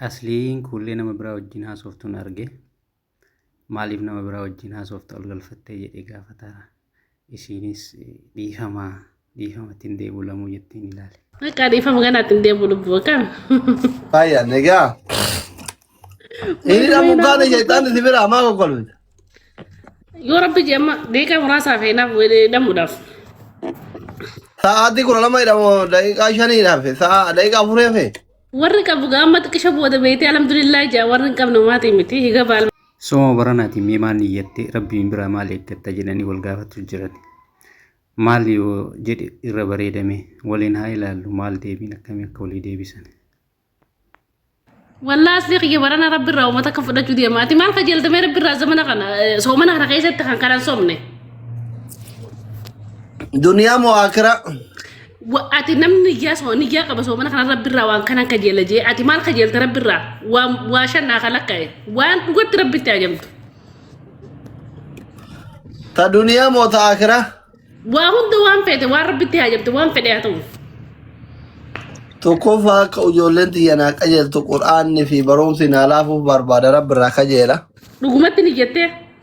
Asliin kuullee nama biraa wajjin haasoftuun arge. Maaliif nama biraa wajjin haasofta ol galfattee jedhee gaafata. Isiinis dhiifama dhiifama ittiin deebi'u lamuu jettiin ilaale. Akka dhiifama kana ittiin deebi'u lubbuu akkam. Baay'ee nagaa. Inni dhamuu gaana jeetaan itti bira hamaa kokkolfita. Yoo rabbi jee amma deeqaa muraasaa fi naaf dhamuudhaaf. Sa'aatii kudha lama jedhamu daqiiqaa shanii dhafe. Sa'a daqiiqaa afurii hafe. Warri qabu gaamma xiqqisha booda beeytee alhamdulillah jaa warri hin qabne maatii miti higa baal. Sooma baranaatiin mee maal niyyatte rabbiin biraa maal eeggatta jedhanii wal gaafatu jiran. Maal yoo jedhe irra bareedame waliin haa ilaallu maal deebiin akkamii akka walii deebisan. Wallaa asli kiyya barana rabbi irraa uummata akka fudhachuu deema. Ati maal qajeeltamee rabbi irraa zamana kana eh, soomana kana keessatti kan kanan soomne. Duniyaa moo akiraa? Wa- Ati namni niyyaa soo niyyaa qaba soomana kana rabbi irraa waan kanan kajeela jee ati maal kajeelta rabbi irraa waan waa shan naa kalakka'e waan dhugatti rabbitti ajamtu Ta duniyaa moo ta akiraa? waa hunda waan feete waan rabbitti ajamtu waan fedhe haa ta'u Tokkoffaa akka ijoolleen tiyya naa qajeeltu qur'aanni fi barumsi naa laafuuf barbaada rabbi irraa kajeela. dhugumatti niyyattee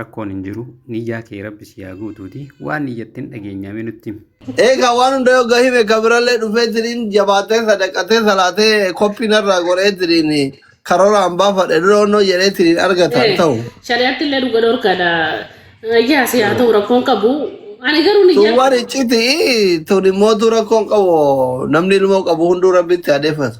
Rakkoon hin jiru niyyaa kee rabbi si haa guutuuti waan niyyattin dhageenyaa mee nutti himi. Eegaa waan hunda yoo gahime ka birallee dhufee diriin jabaatee sadaqatee salaatee koppii narraa godhee diriin karoraan baafadhe dura onnoo jedhee diriin argataan Eh, ta'u. shari'aatti illee dhuga dhorkaadha. Yaa si haa ta'u rakkoon qabu. Ani garuu Tun niyyaa waan icciti tun immoo tu rakkoon qabu namni ilmoo qabu hunduu rabbitti adeeffatu.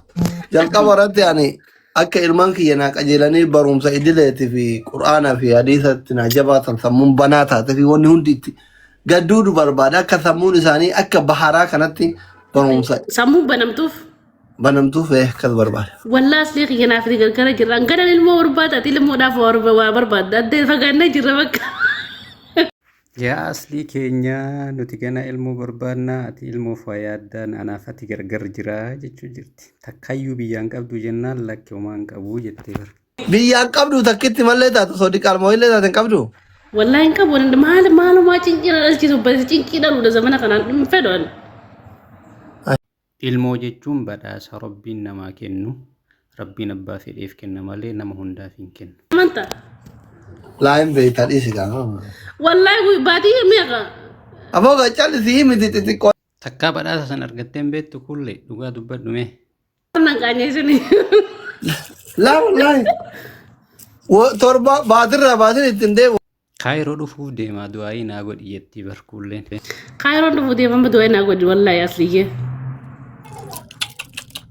Jalqaba irratti ani Akka ilmaan kiyya naa qajeelanii barumsa idileetii fi qur'aanaa fi hadiisatti naa jabaatan sammuun banaa taatee fi wanni hundi itti gadduudu barbaada. Akka sammuun isaanii akka baharaa kanatti barumsa Sammuu banamtuuf banamtuuf eh, akkas barbaada. wallaa aslee kiyya naaf ni gargara jirra. Hanganan ilmoo barbaada ati ilmoodhaaf waa barba- waa barbaadda. Addee fagaannee jirra bakka. Yaa aslii keenyaa nuti ganaa ilmoo barbaadnaa ati ilmoof waa yaaddaan anaaf ati gargar jiraa jechuu jirti takkayyuu biyyaan qabduu jennaan lakki homaa hin qabuu jettee bar. Biyyaan qabduu takkitti mallee taatu osoo diqaal moo'illee taate hin qabduu. Wallahi hin qabu waliin maal maalumaa cinqiidha dhalchiisu basi cinqii dhaluudha zamana kanaan hin fedhu ani. Ilmoo jechuun badhaasa Rabbiin namaa kennu. Rabbiin abbaa fedheef kenna malee nama hundaaf hin kennu. Amanta. Laa hin beektaa dhiisi gaama. Wallahi guyyaa baadiyyaa meeqa? Aboo ga callisi himiti xixiqqoo. Takkaa badhaasa san argattee hin beektu kulle dhugaa dubbadhu mee. Nan qaanyee suni. Laa wallaahi. Wo- Torba baatirraa baatin ittiin deemu. Kaayiroo dhufuuf deemaa du'aayii naa godhi jettii bar kuulleen. Kaayiroon dhufu deemama du'ee naa godhi wallaahi asliyyee.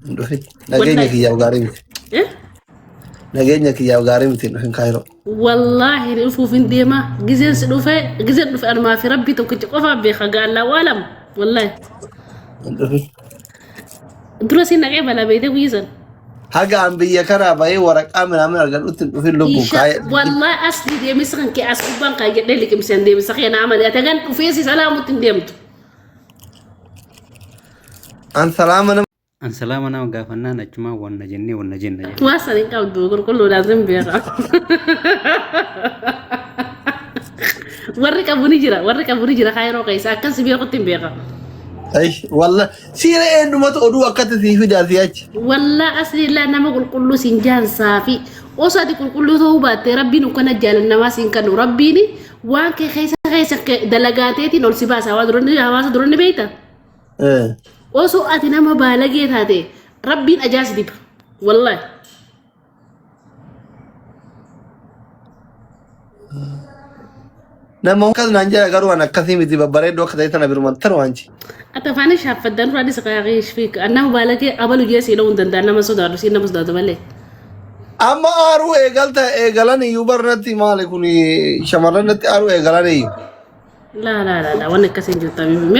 Hin dhufin. Nageenya Wallahi. kiyyaaf gaarii miti. Eh? Nageenya kiyyaaf gaarii miti hin dhufin kaayiroo. Wallaahi ni dhufuuf hin deema. Gizeen si dhufe gizeen dhufe anumaa fi rabbii tokkicha qofaa beeka gaallaa waalam. Wallaahi. Hin dhufin. Dura siin dhaqee balaa beeytee guyya san. Haga an biyya kanaa bahee waraqaa minaamin argadhutti hin dhufin lubbuun Isha kaayee. wallahi as ni deemisa kan kee as gubbaan kan jedhee liqimsee hin deemisa kee naa malee atagan dhufee si salaamutti hin deemtu. An salaama nama. An salaama nama gaafannaan achumaan wanna jennee wanna jenna jedhe. Waa san hin qabdu qulqulluudhaan sin beeka. Warri qabu ni jira, warri qabu ni jira kaayiroo keessa akkan si beekutti hin beeka. Ay, walla siira eendumatu oduu akkatti sii fidaa si achi. Wallaa asliillaa nama qulqulluu siin jaansaa fi osoo ati qulqulluu ta'uu baattee rabbiin ukkana jaalan namaa siin kanu rabbiin waan kee keessa keessa kee dalagaateetiin ol si baasa hawaasa duranni hawaasa duranni beekta. Eh, Osoo ati nama baalagee taate rabbiin ajaa si diba. Wallaahi. Nama akkas naan jedha garuu an akkasii miti babbareedduu akka ta'e sana biruman taru anchi. Ati afaan ishee haffaddan dura dhisa qaaqii ishee nama baalagee abalu jee siidhoo hin danda'an nama sodaatu siin nama sodaatu malee. Amma aaruu eegalta eegalan iyyuu barnatti maali kun shamarran natti aaruu eegalan iyyuu. Laa laa laa laa waan akkasii hin jirtu.